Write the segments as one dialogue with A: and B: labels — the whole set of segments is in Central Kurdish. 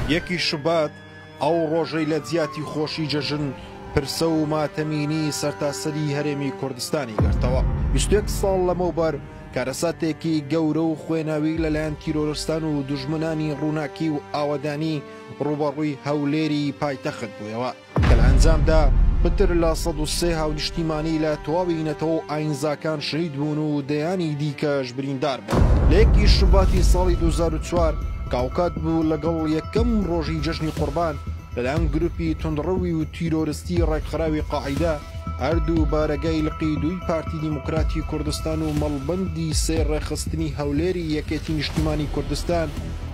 A: یەکی شوبات ئەو ڕۆژەی لە جیاتی خۆشی جەژن پرسە و ماتەمینی سەرتاسەری هەرێمی کوردستانی گرتەوە ویستێک ساڵ لەمەوبەر کارەساتێکی گەورە و خوێناوی لەلایەن تیرۆرستان و دژمنانی ڕووناکی و ئاوەدانی ڕوبەڕووی هەولێری پایتەخت بووەوە کە لە ئەنجامدا پتر لە سەد و سێ هاونیشتیمانی لە تەواوی نەتەوە و ئاینزاکان شەهید بوون و دەیانی دیکەش بریندار بوون لە یەکی شوباتی ساڵی دوو هەزار و چوار کە هاوکات بوو لەگەڵ یەکەم ڕۆژی جەژنی قوربان لەلایەن گروپی توندڕەوی و تیرۆرستی ڕێکخراوی قاعیدە هەردوو بارەگای لقی دووی پارتی دیموکراتی کوردستان و مەڵبەندی سێ ڕێکخستنی هەولێری یەکێتی نیشتیمانی کوردستان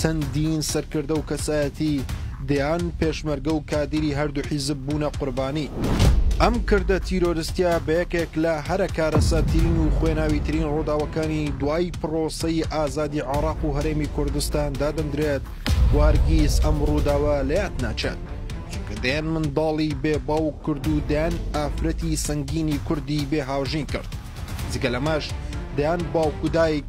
A: چەندین سەرکردە و کەسایەتی دەیان پێشمەرگە و کادیری هەردوو حیزب بوونە قوربانی. ئەم کردە تیرۆرستیە بە یەکێک لە هەرە کارەساتترین و خوێناویترین ڕووداوەکانی دوای پڕۆسەی ئازادی عێراق و هەرێمی کوردستان دادەندرێت و هەرگیز ئەم ڕووداوە لە یاد ناچێت، چونکە دەیان منداڵی بێ باوک کرد و دەیان ئافرەتی سەنگینی کوردی بێ هاوژین کرد، جگە لەمەش دەیان باوک و دایک